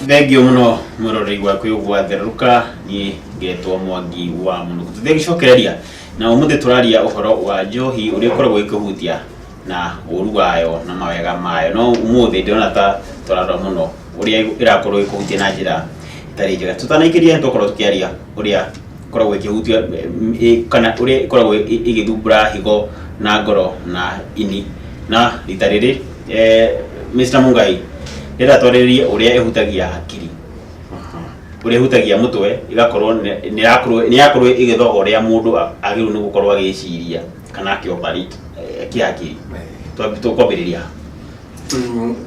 thengio muno mwirorei gwaku gwatherũka niĩ ngetwo mwangi wa mũno tũthiĩ gĩcokereria na ũmũthĩ tũraria ũhoro wa njohi ũrĩa ũkoragwo ĩkĩhutia na ũru wayo na mawega mayo no ũmũthĩ ndĩrona ta tũrarora mũno ũrĩa ĩrakorwo ĩkĩhutia na njĩra ĩtarĩ njega tũtanaikĩria nĩ tũkorwo tũkĩaria ũrĩa ĩkoragwo ĩkĩhutia kana ũrĩa ĩkoragwo ĩgĩthumbũra higo na ngoro na ini. Na rita rĩrĩ Mister Mungai rĩera twarĩrĩrie ũrĩa ĩhutagia hakiri, ũrĩa ĩhutagia mũtwe ĩgakorwo nĩ ĩrakorwo ĩgĩthoga ũrĩa mũndũ agĩrĩirwo nĩ gũkorwo agĩciria kana akĩ operate kĩhakiri. Tũkwambĩrĩria ha?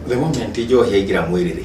The moment njohi yaingĩra mwĩrĩ rĩ,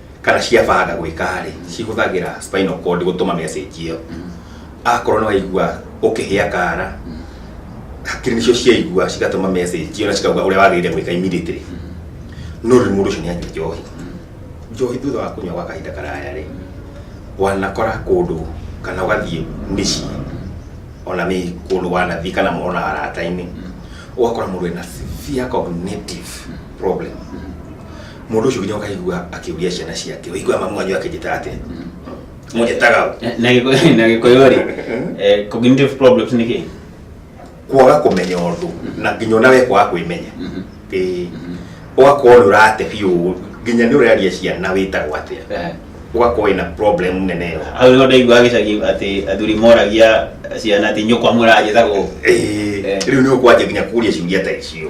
kana ciabanga gwĩka rĩ cihũthagĩra spinal cord gũtũma message ĩyo akorwo nĩ waigua ũkĩhĩa kara hakiri nĩcio ciaigua cigatũma message ĩyo na cikauga ũrĩa wagĩrĩire gwĩka immediately no rĩu mũndũ ũcio nĩ anyua njohi njohi thutha wa kũnyua gwa kahinda karaya rĩ wanakora kũndũ kana ũgathiĩ mĩciĩ ona mĩ kũndũ wanathiĩ kana ona arata-inĩ ũgakora mũndũ ena severe cognitive problem Mũndũ ũcio nginya ũkaigua akĩũria ciana ciake. Ũiguaga mamu wanyu akĩnjĩtaga atĩa? Mũnjĩtaga ũ? Na- na gĩkũyũ- na gĩkũyũ rĩ eh, cognitive problems nĩ kĩ Kwaga kũmenya ũndũ na nginya ona we kwaga kwĩmenya. Ĩĩ. Ũgakorwo nĩ ũrate biũ nginya nĩ ũraria ciana wĩtagwo atĩa. Eh, Ũgakorwo wĩna problem nene ĩyo. hau nĩho ndaigua gĩcagi atĩ athuri moragia ciana atĩ nyũkwa mũranjĩtagwo Ĩĩ. Eh. Rĩu nĩ ũkwanjia nginya kũria ciũria ta icio.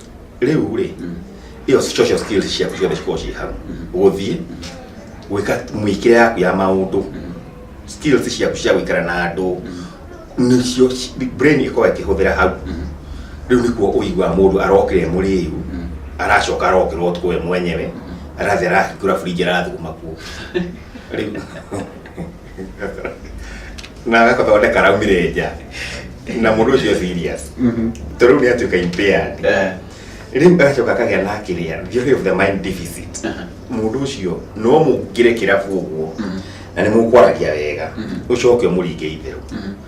rĩu rĩ ĩyo social skills ciaku ciothe cikorwo ciĩ hau gũthiĩ gwĩka mũikĩre yaku ya maũndũ skills ciaku cia gũikara na andũ nĩcio ci- brain ĩkorwo ĩkĩhũthĩra hau rĩu nĩkuo ũiguaga mũndũ arokire mũrĩu aracoka arokĩra ũtukũ we mwenyewe arathiĩ arahingũra burinji arathuguma kuo rĩu na agathondeka raumire nja na mũndũ ũcio serious Mhm. tondũ rĩu nĩ atuĩka impaired Eh. rĩu agacoka akagĩa na kĩrĩa theory of the mind deficit Aha. mũndũ ũcio no mũngĩre kĩrabu ũguo na nĩ mũkwaragia wega Mhm. ũcoke ũmũringe itherũ Mhm.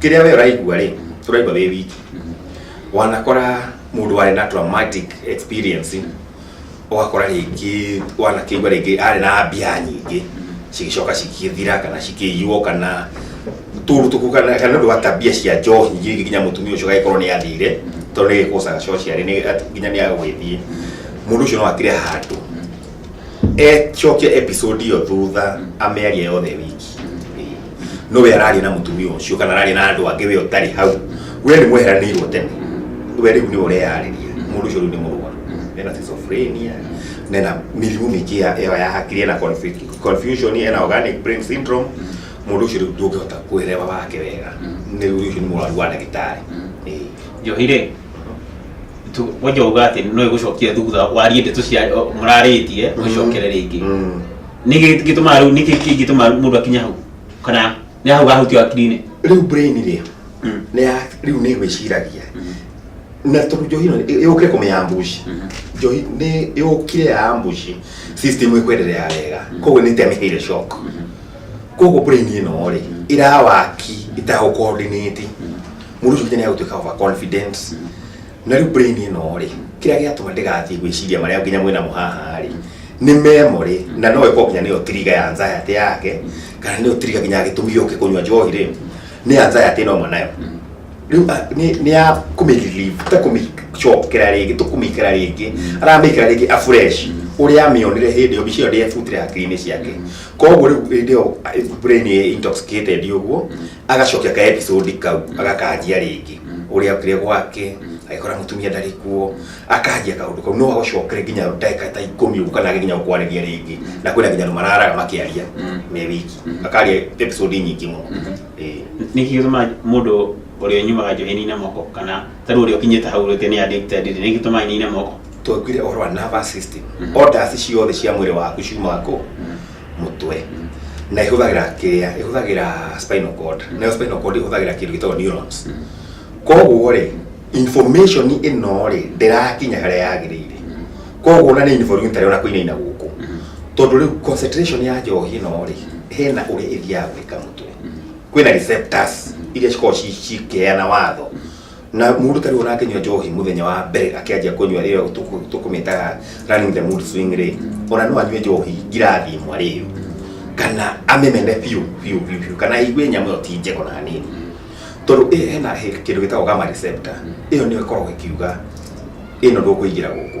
kä rä a we å raigua rä å raigua wä wiki wanakora må ndå arä na traumatic experience ũgakora rĩngĩ wanakĩigua rĩngĩ arĩ na mbia nyingĩ cigĩcoka cigĩthira kana cikĩiywo kana tũndũ tũku kana kana ũndũ wa tabia cia njohi nyingĩ nginya mũtumia ũcio agagĩkorwo nĩ athire tondũ nĩ gĩkũcaga coci arĩ nĩ- nginya nĩ agũgĩthiĩ mũndũ ũcio no akĩre handũ ecokia episode iyo thutha amearia yothe wiki no we araria na mutumia ucio kana araria na andu angi we utari hau we ni mweheranirwo tene we riu ni ureyariria mundu ucio riu ni murwa ena schizophrenia nena mirimu mingi ya ya ya hakiri ena confu- confusion ena organic brain syndrome mundu ucio riu ndungihota kwirewa wake wega ni riu ucio ni murwaru wa ndagitari Ĩĩ. njohi rĩ Tu- wanja uga atä no ä gå cokia thutha warie ndeto cia må rarä tie må cokere rä ngä Mm. nä gä tå maga rä u nä kä kä ngä tå maga må ndå akinya hau kana nä hau gahutio akirinä rĩu brain rĩ Mm. nĩ ya rĩu nĩ gwĩciragia na tondũ njohi ĩno yũkire kũmenya mbuci njohi nĩ yũkire ya mbuci system ĩkwenderea wega koguo nĩ temĩhĩire shock koguo brain ĩno rĩ ĩrawaki ĩtagũkoordinate mũndũ ũcio nginya nĩagũtuĩka over confident na rĩu brain ĩno rĩ kĩrĩa gĩatũma ndĩgathiĩ gwĩciria marĩa nginya mwĩna mũhaha rĩ nĩ memory na no ĩkorwo nginya nĩyo tiriga ya anxiety yake kana nĩyo tiriga nginya gĩtũmi gĩũke kũnyua njohi rĩ nĩ anxiety ĩno ũmwe nayo rĩu a- nĩ nĩ ya kũmĩrelieve ta kũmĩcokera rĩngĩ tũkũmĩkĩra rĩngĩ aramĩkĩra rĩngĩ afresh ũrĩa amĩonire hĩndĩ ĩyo mbica ĩyo ndĩabutire hakiri-inĩ ciake koguo rĩu hĩndĩ ĩyo brain intoxicated ũguo agacokia ka episode kau agakanjia rĩngĩ ũrĩa okire gwake agĩkora mũtumia ndarĩ kuo akanjia kaũndũ kau no agũcokere nginya ndagĩka ta ikũmi ũguo kana nginya gũkwarĩria rĩngĩ na kwĩna nginya andũ mararaga makĩaria me wiki akaria episode nyingĩ mũno Ĩĩ. nä kä gätå må ndå å rä a nyumaga njohi nina moko kana tarä å rä a å kinyä te hau rä te nä andä nä gä tå maga nina moko twaiguire ũhoro wa nervous system orders ciothe cia mwĩrĩ waku ciumaga kũ mũtwe na ihũthagĩra kĩrĩa ihũthagĩra spinal cord nayo spinal cord ihũthagĩra kĩndũ gĩtagwo neurons koguo rĩ information ĩno rĩ ndĩrakinya harĩa yagĩrĩire koguo na nĩ involuntary ona kũinaina gũkũ tondũ rĩu concentration ya njohi ĩno rĩ hena ũrĩa ĩthiaga gwĩka mũtwe kwĩna receptors iria cikoragwo ci- cikĩheana watho na mũndũ tarĩ ũrakĩnyua njohi mũthenya wa mbere akĩanjia kũnyua rĩyo tũkũ- tũkũmĩtaga running the mood swing rĩ ona no anyue njohi ngirathi ĩmwe rĩyo kana amĩmene biũ biũ biũ biũ kana aigue nyamũ ĩyo ti njega ona hanini tondũ ĩyo hena he- kĩndũ gĩtagwo gamma receptor ĩyo nĩyo ĩkoragwo ĩkiuga ĩno ndũkũingĩra gũkũ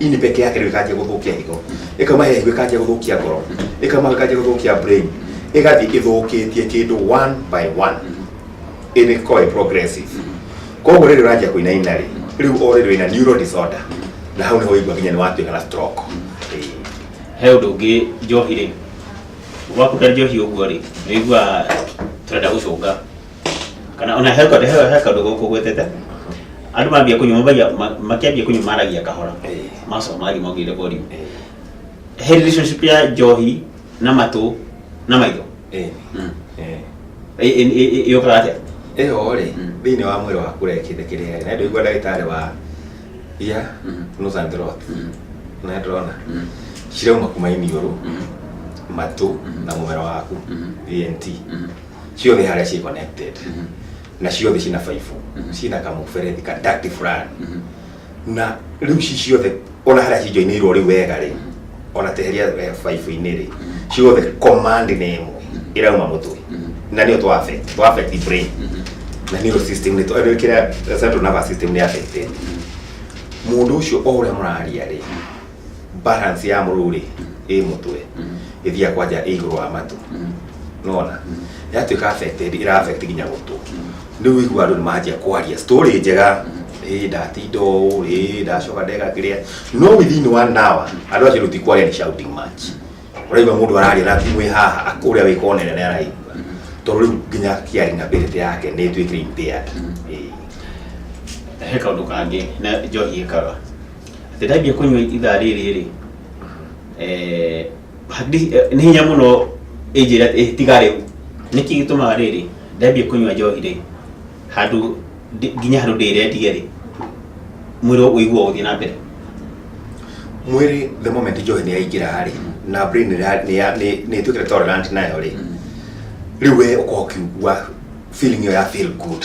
ini peke yake ndio ikaanjia gũthũkia higo ĩkauma he higo ĩkanjia gũthũkia ngoro ĩkauma ĩkanjia gũthũkia brain ĩgathiĩ ĩthũkĩtie kĩndũ one by one ĩrĩ koe progressive koguo rĩrĩ ũranjia kũinaina rĩ rĩu o rĩrĩ wĩna neuro disorder na hau nĩho ũigua nginya nĩ watuĩka na stroke Ĩĩ. he ũndũ ũngĩ njohi rĩ wakuta njohi ũguo rĩ nĩigua tũrenda gũcũnga kana ona he kaũndũ he- he kaũndũ gũkũ gwĩtĩte andũ mambia kũnyua mabagia ma- makĩambia kũnyua maragia kahora Eh. macoka maragia maugĩire volume Eh, he relationship ya njohi na matũ na maitho eh, Mm. eh. Ĩ- ĩ- ĩ- ĩ- yũkaga atĩa ĩyo rĩ Mm. thĩinĩ wa mwĩrĩ waku rekĩte kĩrĩa na ndũigua ndagĩtarĩ wa ia Mhm. nose and throat Mm. na ndĩrona Mm. cirauma kuma iniũrũ Mhm. matũ Mhm. na mũmero waku Mhm. ENT Mhm. ciothe harĩa ci connected na ciothe cina baibũ cina kamũberethi ka duct fulani na rĩu ci ciothe ona harĩa cijoinĩirwo rĩu wega rĩ ona teheria eh, baibũ-inĩ rĩ ciothe command nĩ ĩmwe ĩrauma mũtwe na nĩyo twa affect twa affect brain na nĩyo system nĩ twa- nĩ kĩrĩa central nervous system nĩ affected mũndũ ũcio o ũrĩa mũraria rĩ balance ya mũrũũ rĩ ĩ mũtwe ĩthiaga kwa nja ĩ igũrũ wa matũ nona yatuĩka affected ĩra affect nginya gũtũ rĩu wĩigua andũ nĩ manjia kwaria story njega ĩ ndatinda ũũ ĩ ndacoka ndeka kĩrĩa no within one hour andũ acio rĩu ti kwaria nĩ shouting match ũraigua mũndũ araria na thimũ ĩ haha akũrĩa wĩ kona nene araigua tondũ rĩu nginya hearing ability yake nĩ ĩtuĩkire impaired Ĩĩ. he kaundu kangi na njohi ikaga atĩ ndambia kũnyua ithaa rĩrĩ rĩ eh, hadi- eh, nĩ hinya mũno ĩnjĩra atĩ, "Eh, tiga rĩu nĩkĩ gĩtũmaga rĩrĩ ndambia kũnyua njohi rĩ handũ ndi- nginya handũ ndĩrendia rĩ mwĩrĩ ũiguo gũthiĩ na mbere mwĩrĩ the moment njohi nĩ yaingĩra rĩ na brain nĩ ya- nĩ ya- nĩ- nĩ ĩtuĩkĩte tolerant nayo rĩ rĩu we ũkorwo ũkiugua feeling ĩyo ya feel good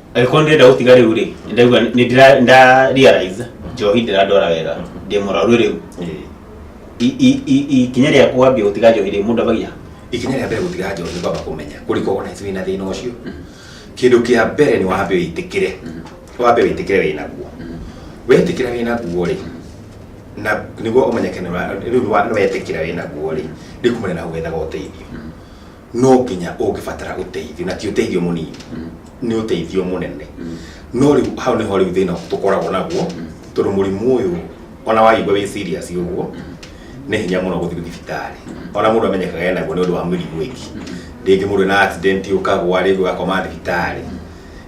angĩkorwo ndĩrenda gũtiga rĩu rĩ ndĩraigua nĩ ndĩra- nda realize njohi ndĩrandwara wega ndĩ mũrwaru rĩu I- i- i- ikinya rĩa kwambia gũtiga njohi rĩ mũndũ ambagia ikinya rĩa mbere gũtiga njohi kwamba kũmenya kũrĩko ona wĩ na thĩna ũcio kĩndũ kĩa mbere nĩ wambe wĩtĩkĩre wambe wĩtĩkĩre wĩ naguo wetĩkĩra wĩ naguo rĩ na nĩguo ũmenyeke nĩ wa- rĩu nĩ wa- nĩ wetĩkĩra wĩ naguo rĩ rĩu kumana na gwethaga ũteithio no nginya ũngĩbatara ũteithio na ti ũteithio mũnini nĩ ũteithio mũnene no rĩu hau nĩho rĩu thĩna tũkoragwo naguo tondũ mũrimũ ũyũ ona waigua wĩ serious ũguo nĩ hinya mũno gũthiĩ thibitarĩ ona mũndũ amenyekaga ena guo nĩ ũndũ wa mĩrimũ ĩngĩ rĩngĩ mũndũ ena accident ũkagwa rĩngĩ ũgakoma thibitarĩ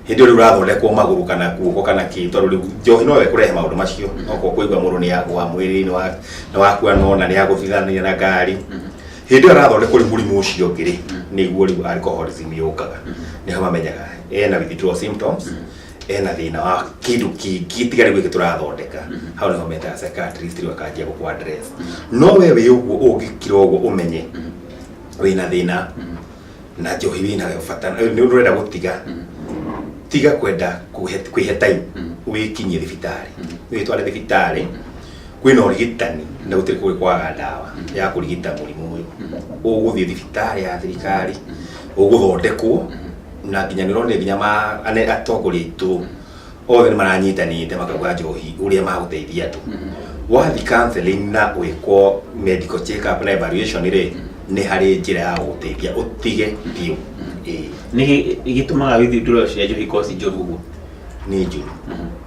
hĩndĩ ĩyo rĩu ũrathondekwo magũrũ kana kuoko kana kĩ tondũ rĩu njohi no ĩkũrehe maũndũ macio okorwo kũigua mũndũ nĩ agwa mwĩrĩ nĩ wa- nĩ wakua no na nĩ agũthithania na ngari hĩndĩ ĩyo arathondekwo rĩ mũrimũ ũcio ũngĩ rĩ nĩguo rĩu alcoholism yũkaga nĩho mamenyaga ena withdrawal symptoms ena thĩna wa kĩndũ kĩngĩ tiga rĩu gĩkĩ tũrathondeka hau nĩho metaga psychiatrist rĩu akanjia gũkũ address no we wĩ ũguo ũngĩkira ũguo ũmenye wĩna thĩna na njohi wĩna bata nĩ ũndũ ũrenda gũtiga tiga kwenda kwĩhe time wĩkinyie thibitarĩ wĩtware thibitarĩ kwĩna ũrigitani na gũtirĩ kũrĩ kwaga ndawa ya kũrigita mũrimũ ũyũ ũgũthiĩ thibitarĩ ya thirikari ũgũthondekwo na nginya nĩũrone nginya ma- ane- atongoria aitũ othe nĩ maranyitanĩte makauga njohi ũrĩa magũteithia andũ wathi counseling na gwĩkwo medical check up na evaluation rĩ nĩ harĩ njĩra ya gũgũteithia ũtige biũ Ĩĩ, nĩ gĩ- gĩtũmaga withdraw cia njohi ikorwo ci njũru ũguo nĩ njũru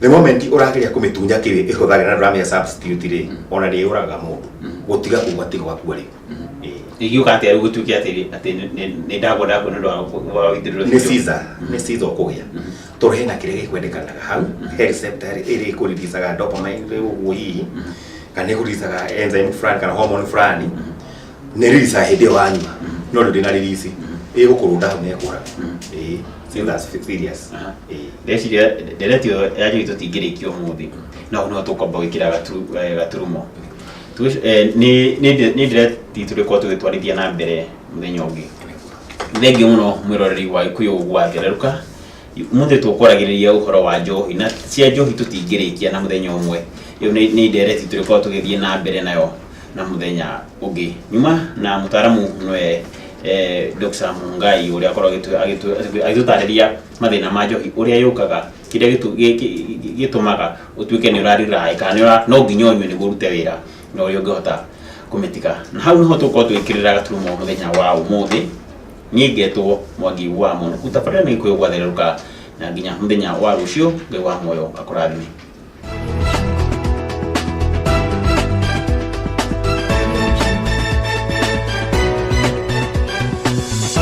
the moment ũrageria kũmĩtunya kĩwĩ ĩhũthagĩra na ndũramenya substitute rĩ ona nĩ yũraga mũndũ gũtiga kuga atĩ gwakua rĩ Eh, ingiuga atĩa rĩu gũtuĩke atĩ atĩ nĩ- nĩ- nĩ ndagwa ndagwa nĩ ũndũ wa gũ- wa gũitĩrĩrwo nĩ ciza nĩ ciza ũkũgĩa tondũ hena kĩrĩa gĩkwendekanaga hau he receptor ĩrĩ ĩkũriricaga dopamine rĩu ũguo hihi kana ĩkũriricaga enzyme fulani kana hormone fulani nä ririca hä ndä ä yo wanyua no ndå ndä na ririci ä gå kå rå nda hau nekåra Aha. ndeciria ndereti ĩyo ya njũi tũtingĩrĩkia ũmũthĩ no no tũkwamba gwĩkĩra gatu- eh, gaturumo Tũgĩc- eh, nĩ- nĩ nde- nĩ ndereti tũrĩkorwo tũgĩtwarithia na mbere mũthenya ũngĩ thengiũ mũno mwĩroreri wa ikuyu gwa ngereruka Umuthi tukoragiriria uhoro wa njohi na cia njohi tutingirikia na muthenya umwe. Iyo ni ni ndereti turikorwo tugithie na mbere nayo na muthenya ungi. Nyuma na mutaramu nwe eh, Dr. Mungai uria akorwo agitu- agitu- agitutariria mathina ma njohi uria yukaga kiria gitu- gi- gi- gi- gitumaga utuike ni urarira kana ni ura- no nginya unywe niguo urute wira na uria ungihota kumitiga. Na hau niho tukorwo twikirira gaturumo muthenya wa umuthi niĩ ngetwo mwangi wa mũno utabarĩra nĩ gĩkũyũ gwatherũka na nginya mũthenya wa rũciũ ngai wa muoyo akũrathime